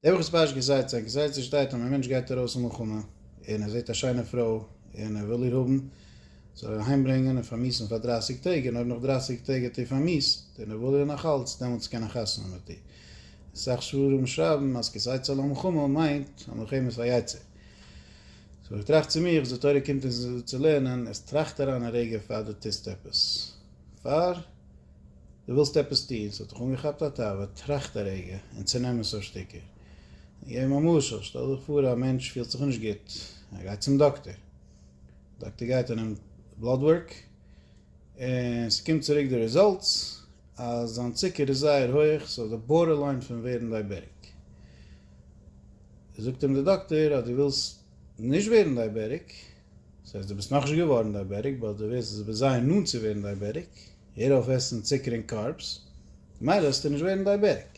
דער וואס באשט געזייט זיין געזייט זיך שטייט און א מענטש גייט ארויס אין מלחמה און ער זעט א שיינע פרוי און ער וויל איר האבן זאל ער איר אהיים ברענגען און פארמיסן פאר דרייסיג טעג און אויב נאך דרייסיג טעג האט איר פארמיסט און ער וויל איר נאך אלץ דעמאלטס קען ער חתונה מיט איר. אסאך ספרים שרייבן אז געזייט זיין אין מלחמה מיינט אז מלחמה איז פארייצער. סאו איך טראכט צו מיר אז די תורה קומט אונז צו לערנען אז טראכט אריין א רגע פאר דו טוסט עפעס. פאר. דו ווילסט עפעס טון, ס'האט דיך אנגעכאפט א תאווה, טראכט א רגע און צונעם עס אויף שטיקער. געב אים א משל, שטעל דיך פאר א מענטש פילט זיך נישט גוט, ער גייט צום דאקטער, דאקטער גייט און נעמט בלאד ווארק, און ס'קומט צוריק די רעזאלטס אז זיין צוקער איז זייער הויעך, ס'איז אויף די בארדערליין פון ווערן דייבעריק. זאגט אים די דאקטער אז דו ווילסט נישט ווערן דייבעריק, ס'הייסט דו ביסט נאכנישט געווארן דייבעטיק באט דו ווערסט עס בזיון נאנט צו ווערן דייבעטיק, הער אויף עסן צוקער און קארבס, ממילא וועסטו נישט ווערן דייבעטיק.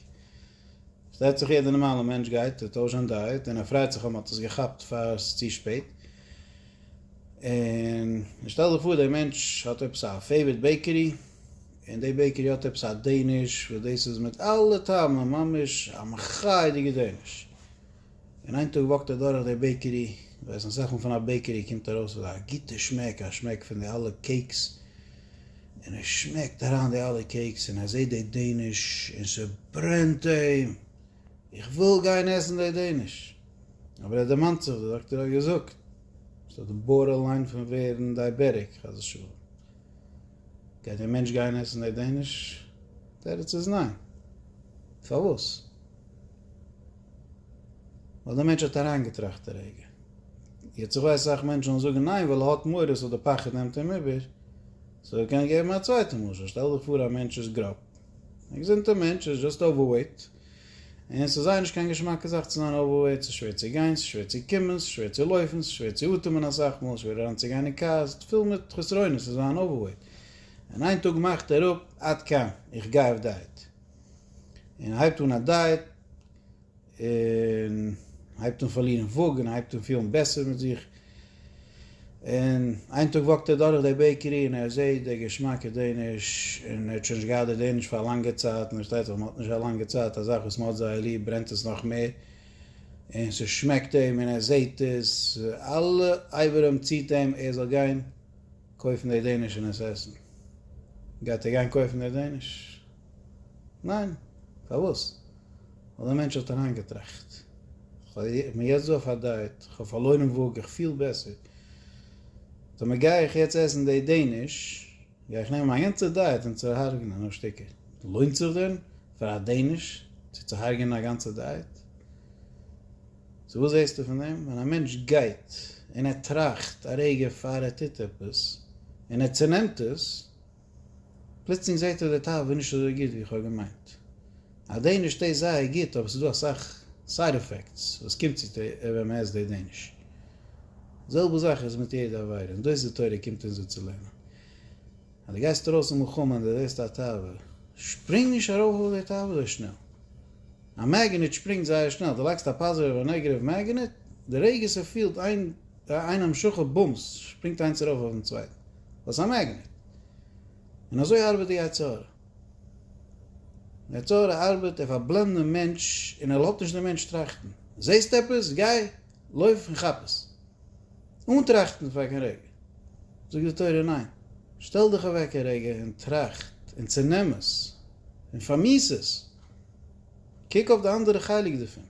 פארשטייט זיך יעדע נארמאלע מענטש גייט ער טוישט זיין דייעט און ער פרייט זיך אז מען האט עס געכאפט פאר עס איז צו שפעט, און שטעל דיך פאר דער מענטש האט עפעס א פעיווערט בעיקערי און די בעיקערי האט עפעס א דעיניש וואס דאס איז מיט אלע טעמים ממש א מחייה'דיגע דעיניש, און איין טאג וואקט ער דורך די בעיקערי, ווייסן אסאך מאל פון א בעיקערי קומט ארויס אזא גוטע שמעק, א שמעק פון די אלע קעיקס, און ער שמעקט אריין די אלע קעיקס און ער זעט די דעיניש און ס'ברענט אים, איך וויל גיין עסן די דעיניש, אבער ער דערמאנט זיך די דאקטער האט געזאגט עס האט בארדער ליין פון ווערן דייבעטיק חס ושלום, גייט דער מענטש גיין עסן די דעיניש? תירוץ איז ניין, פארוואס? ווייל דער מענטש האט אריינגעטראכט א רגע. יעצט איך ווייס אסאך מענטשן וועלן זאגן ניין ווייל ער האט מורא סאו די פחד נעמט אים איבער. סאו איך קען געבן א צווייטע משל, שטעל דיך פאר א מענטש איז גראב. א געזונטע מענטש איז זשאסט אווערוועיט. און ס'איז זייער נישט קיין געשמאקע זאך צו זיין אווערוועיט, ס'איז שווער צו גיין, ס'איז שווער צו קומען, ס'איז שווער צו לויפן, ס'איז שווער צו אטעמען אסאך מאל, שווער אריינצוגיין אין קאר, ס'איז פיל מיט חסרונות צו זיין אווערוועיט. און איין טאג מאכט ער אפ, עד כאן, איך גיי אויף דייעט. און הייבט אן א דייעט, און הייבט אן פארלירן וואג, און הייבט אן פילן בעסער מיט זיך, און איין טאג וואקט ער דורך די בעיקערי און ער זעהט די געשמאקע דעניש, און ער האט שוין נישט געהאט די דעניש פאר א לאנגע צייט, און פארשטייט זיך מען האט נישט א לאנגע צייט א זאך וואס מען האט זייער ליב ברענט עס נאך מער, און ס'שמעקט אים און ער זעהט עס, אלע אברים ציט אים ער זאל גיין קויפן די דעניש און עס עסן, גייט ער גיין קויפן די דעניש, ניין, פארוואס? ווייל דער מענטש האט אריינגעטראכט, איך בין יעצט דא אויף א דייעט, איך האב פארלוירן וואג, איך פיל בעסער, טאמער גיי איך יעצט עסן די דעניש, גיי איך נעמען מיין גאנצע דייעט און צוהארגענען אויף שטיקער, לוינט זיך דען פאר א דעניש צו צוהארגענען א גאנצע דייעט? סאו וואס זעסטו פון דעם? ווען א מענטש גייט און ער טראכט א רגע פאר ער טוט עפעס, און ער צונעמט עס, פלוצלינג זעהט ער די תאווה איז נישט אזוי גוט ווי איך האב געמיינט. א דעניש טעיסט זייער גוט אבער ס'איז דא אסאך סייד עפעקטס וואס קומט צו טעיסט ווען מ'עסט די דעניש. זעלבע זאך איז מיט יעדע עבירה און דאס די תורה קומט אונז אנצולערנען. אז די גייסט ארויס אין מלחמה און די זעהסט א תאווה, שפרינג נישט ארויף אויף די תאווה אזוי שנעל. א מעגענעט שפרינגט זייער שנעל, די לייגסט א פאזיטיוו און א נעגעטיוו מעגענעט, די רגע ס'פילט איין א המשכה בומס שפרינגט איינס ארויף אויפן צווייטן. וואס א מעגנעט. און אזוי ארבעט די יצר הרע. די יצר הרע ארבעט, ער פארבלענדט דעם מענטש און ער לאזט נישט דעם מענטש טראכטן. זעסט עפעס? גיי, לויף און כאפ עס. אן טראכטן פאר קיין רגע. זאגט די תורה ניין. שטעל דיך אוועק א רגע און טראכט און צענעם עס און פארמיס עס. קוק אויף די אנדערע חלק דערפון.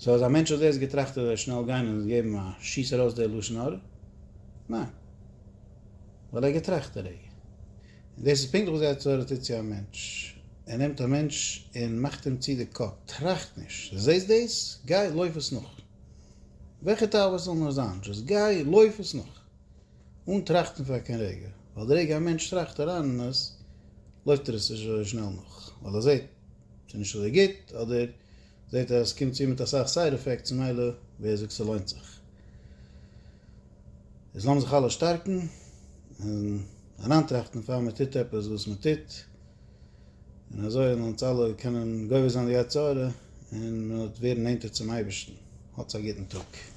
סאו אז א מענטש האט דאס געטראכט וועט ער שנעל גיין און געבן א שיס ארויס די לשון הרע? ניין. ווייל ער האט געטראכט די רגע. און דאס איז פונקטליך וואס די יצר הרע טוט צו א מענטש. ער נעמט א מענטש און מאכט אים צו די קאפ. טראכט נישט. זעסט דאס? גיי לויף עס נאך. וועלכע תאוות ס'זאל נאר זיין. דזשאסט גיי לויף עס נאך. אן טראכטן פאר קיין רגע. ווייל די רגע א מענטש טראכט אריין אין עס, לויפט ער עס שנעל נאך. ווייל ער זעט. ס'איז נישט אזוי גוט, אדער זעהט ער אז ס'קומט צו מיט אסאך סייד עפעקטס ממילא ווער זאגט ס'לוינט זיך. איז לאמיר זיך אלע שטארקן און אריינטראכטן פאר מען טוט עפעס וואס מען טוט, און אזוי וועלן אונז אלע קענען גובר זיין די יצר הרע און מען וועט ווערן נענטער צום אייבערשטן. האטס א גוטן טאג.